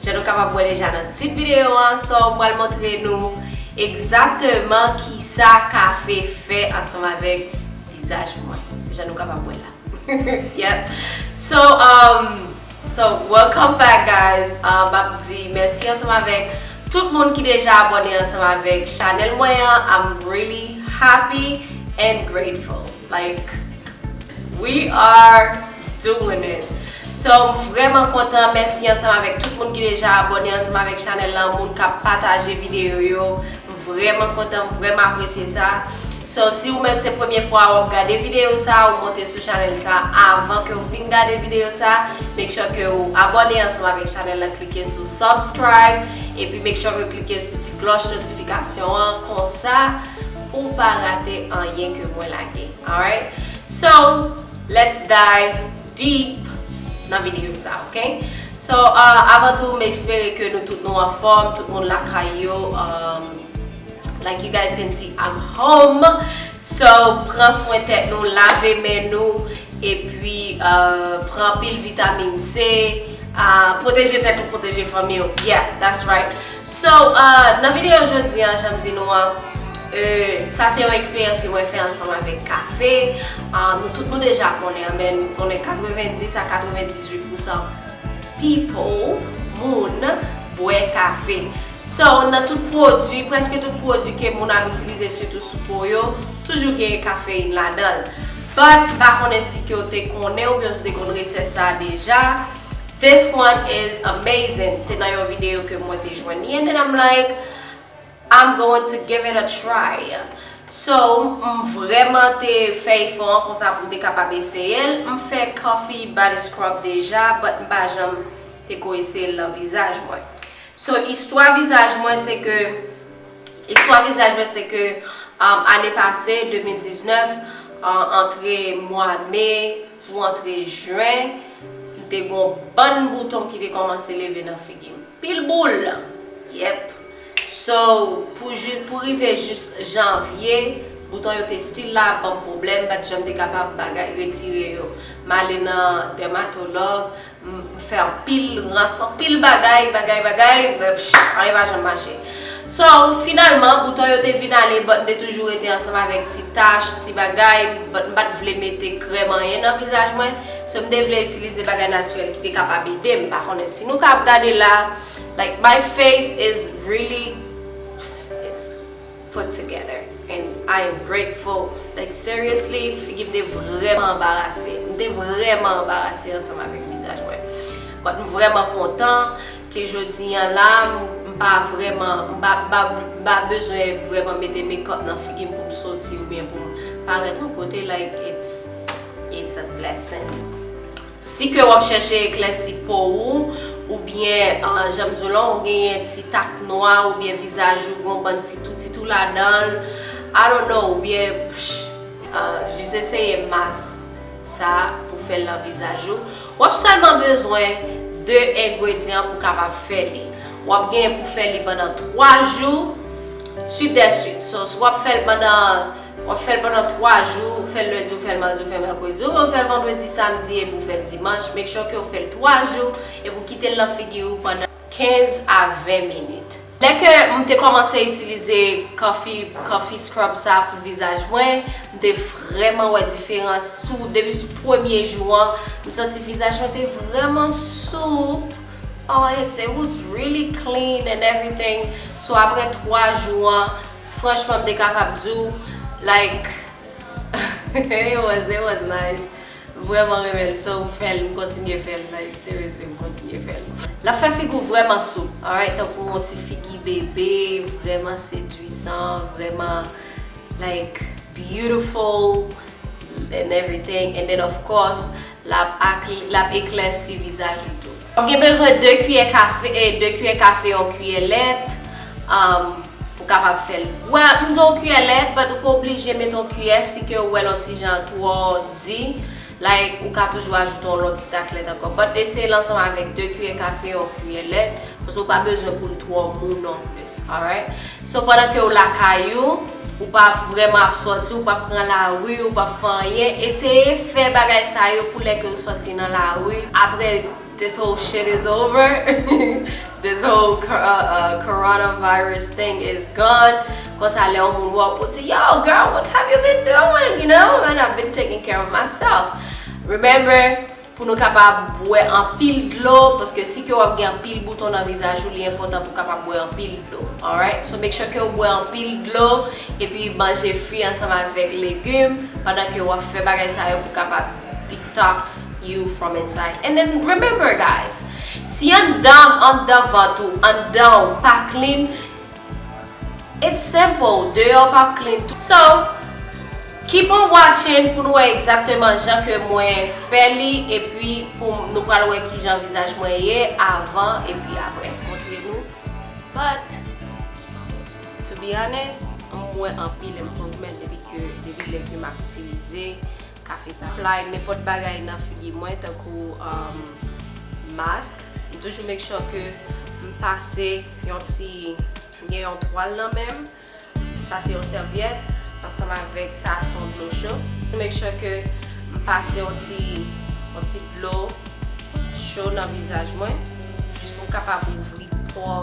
Jan nou kapab wè deja nan tit videyo an, Saw pral montre nou egzateman kisa kafe fè ansanm avèk vizaj mwen. Jan nou kapab wè la. Yep. So, um, so welcome back guys. Um, map di mèsi ansanm avèk tout moun ki deja abòne ansanm avèk chanèl mwen an. I'm really happy and grateful. Like We are doing it So m vrèman kontan Mèsi ansanm avèk tout moun ki deja abòne ansanm avèk chanèl lan Moun k ap pataje videyo yo M vrèman kontan M vrèman apresye sa So si ou menm se premye fwa ou ap gade videyo sa Ou monte sou chanèl sa Avan ke ou fin gade videyo sa Make sure ke ou abòne ansanm avèk chanèl lan Klike sou subscribe Epi make sure ke ou klike sou ti klòch notifikasyon an Konsa Pouw pa rate anyen ke mwen lage. Alright so let's dive deep nan video sa ok. So avan tou m espere ke nou tout nou anfòm, tout moun lakay yo umm like you guys can see I'm home so pran swen tèt nou, lave men nou epi pran anpil vitamin C, pwoteje tèt ou, pwoteje fanmiw yeah that's right. So, nan videyo jodi an, jan m di nou an, sa se yon eksperyans ke mwen fè ansanm avèk kafe. Nou tout nou deja konnen an, men nou konnen 90 a 98 pousan people, moun, bwè kafe. So, nan tout pwodui, prèske tout pwodui ke moun ap itilize sitou sou po yo, toujou genyen kafeyin ladan l. But, m pa konnen si ke w te konnen oubyen si w te konn resèt sa a deja. This one is amazing se nan yon video ke mwen te jwenn li and then I'm like I'm going to give it a try so m vreman te fè efò an konsa pou m te kapab eseye l m fè coffee body scrub deja but m pa janm te ko eseye l nan vizaj mwen so istwa vizaj mwen se ke istwa vizaj mwen se ke ane pase 2019 antre mwa me Pou antre jen, m te gen yon bann bouton ki te kòmanse leve nan figi m. Pil boul! Yep! So, pou jis, pou rive jis janvye, bouton yo te still la ap ban m pwoblèm, m pa t janm te kapab bagay, retire yo. M ale nan dèmatològ, M fè anpil rans, anpil bagay, bagay, bagay, men anyen pa janm mache. So, finalman, bouton yo te vin ale, but m te toujou rete ansanm avèk ti tach, ti bagay, but m pa t vle mete krèm anyen nan vizaj mwen. So, m te vle itilize bagay natirèl ki te kapab ede m. M pa konnen si nou ka ap gade la, like my face is really, it's. put together and I am grateful like seriously figi m te vrèman anbarase m te vrèman anbarase ansanm avèk vizaj mwen but m vrèman kontan ke jodi an la m pa vrèman m pa bezwen vrèman mete makeup nan figi m pou m soti oubyen pou m parèt yon kote like it's a blessing. Si ke wap chèche eklèsi po ou, oubyen janm diw lan ou genyen ti tak nwa oubyen vizaj ou gon bann ti tou ti tou ladanl I don't know oubyen psh jis eseye mas sa pou fèl nan vizaj ou wap sèlman bezwen 2 engredyan pou kapab fè li wap genyen pou fè li pandan 3 jou suit dè suit so si wap fèl pandan W ap fè l pandan 3 jou, ou fè l lendi, ou fè l madi, ou fè l mèkredi, oubyen ou fè l vandredi, samdi epi ou fè l dimanch. Make sure ke ou fè l 3 jou epi ou kite l nan figi ou pandan 15 a 20 minit. Lè ke m te kòmanse itilize Coffee Coffee Scrub sa pou vizaj mwen, m te vrèman wè diferans sou depi sou premye jou an, m santi vizaj mwen te vrèman soup, oh it was really clean and everything, so aprè 3 jou an. Franchman m te kapab di w like it was it was nice m vrèman renmen l so m fè l m kontinye fè l like seriously m kontinye fè l. L ap fè figi w vrèman sou alright tankou yon ti figi bebe vrèman sedwisan vrèman like beautiful and everything and then of course L ap eklèsi vizaj ou tou. W ap gen bezwen 2 kiyè kafe, 2 kiyè kafe yon kiyè lèt, pou kapab fè l. Wè, m di yon kiyè lèt, but ou pa oblije mete yon kiyè si ke ou wè l yon ti jan twò di, like ou ka toujou ajoute yon lòt ti tak lèt ankò. But eseye l ansanm avèk 2 kiyè kafe yon kiyè lèt, paske ou pa bezwen pou l twò mou non plis. Alright So pandan ke ou lakay ou, ou pa vrèman ap sòti, ou pa pran lari, ou pa fè anyen, eseye fè bagay sa yo pou lè ke ou sòti nan lari apre this whole shit is over, this whole coronavirus thing is gone, konsa lè yon moun wè ou pou di yo girl what have you been doing, you know, and I've been taking care of myself. Remember. Pou nou kapab bwè anpil dlo paske si ke wap gen anpil bouton nan vizaj ou li enpòtan pou kapab bwè anpil dlo alright so make sure kew bwè anpil dlo epi manje fwi ansanm avèk legum pandan ke wap fè bagay sa yo pou kapab detox you from inside and then remember guys si andanm andan vant ou andanw pa clean It's simple, deyò pap clean tou. So, keep on watching pou nou wè egzakteman jan ke mwen fè li epi pou nou pral wè kijan vizaj mwen ye avan epi aprè m montre nou but to be honest m wè anpil improvement depi ke depi lè ke map itilize Café Supply, nenpòt bagay nan figi mwen tankou mask, m toujou make sure ke m pase yon ti, m gen yon twal nan men m, sa se yon sèvyèt, ansanm avèk sa se yon dlo cho, m make sure ke m pase yon ti, yon ti dlo cho nan vizaj mwen, jis pou m kapab ouvri pò.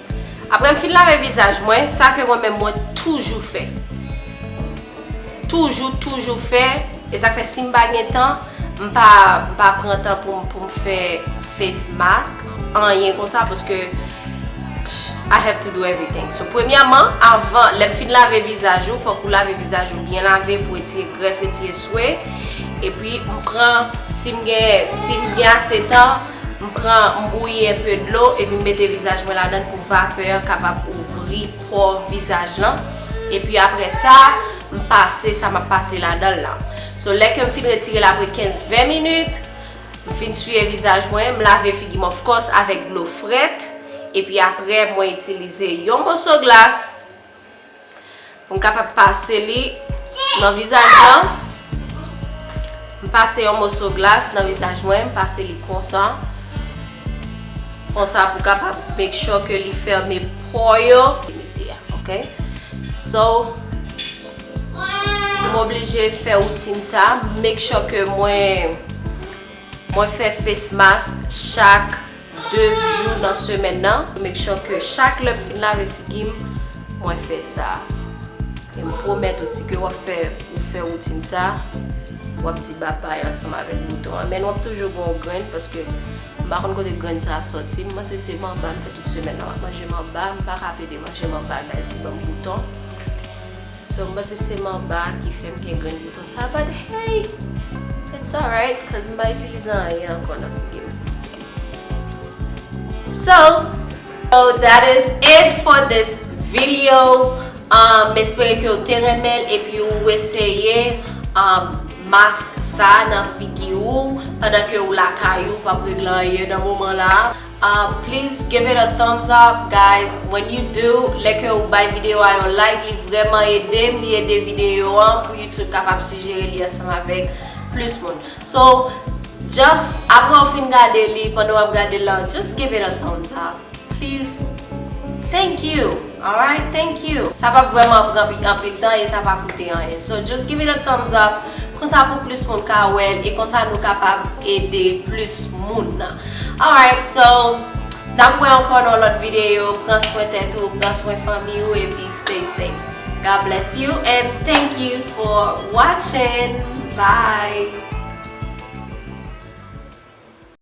Aprè m fin lave vizaj mwen, sa ke mwen menm mwen toujou fè. Toujou, toujou fè. E sa k fè si m pa gen tan, m pa pran tan pou m fè face mask, anyen konsa paske I have to do everything. So, premyèman, avan, lè m fin lave vizaj ou, fòk ou lave vizaj ou byen lave pou retire grès, retire swe. Epi, m pran, si m gen, si m gen ase tan. M pran m bouyi enpe dlo epi m mete vizaj mwen ladann pou vapè an kapab ouvri pò vizaj lan epi aprè sa m pase sa map pase ladanl lan so lè kem fin retirel aprè 15 20 minit m fin siye vizaj mwen m lave figim of course avèk dlo frèt epi aprè mwen itilize yon moso glas Pou m kapab pase li nan vizaj lan. M pase yon moso glas nan vizaj mwen. M pase li konsa. Konsa pou kapab make sure ke li fèmen po yo. Ok. So, m oblije fè woutin sa. Make sure ke mwen... Mwen fè face mask chak 2 jou nan semèn nan pou make sure ke chak lèm fin lave figim mwen fè sa. E m pwomèt ou si ke wap fè ou fè woutin sa wap di babay ansanm avèk bouton an. Menn wap toujou gen yon grenn paske m pa konn kote grenn sa soti. M panse se manba m fè tout semèn nan. Map manje manba, m paka pede manje manba guys li banm bouton. So m panse se manba a ki fèm gen grenn bouton sa a but hey it's alright cuz m pa itilize anyen ankò nan figi m So So that is it for this video um m espere ke w te renmen l epi ou eseye um mask sa a nan figi ou pandan ke ou lakay ou pap regle anyen nan moman la. Please give it a thumbs up guys when you do lè ke ou bay video a yon like li vrèman edem li ede video an pou YouTube kapab sijere li ansanm avèk plis moun so just aprè ou fin gade li pandan wap gade lan just give it a thumbs up please thank you. Alright thank you! Sa pap vrèman pran pi anpil tan e sa pa koute anyen so just give it a thumbs up konsa pou plis moun ka wèl e konsa nou kapab ede plis moun nan alright so nap wè ankò nan yon lòt videyo pran swen tèt ou pran swen fanmi ou epi stay safe God bless you and thank you for watching bye.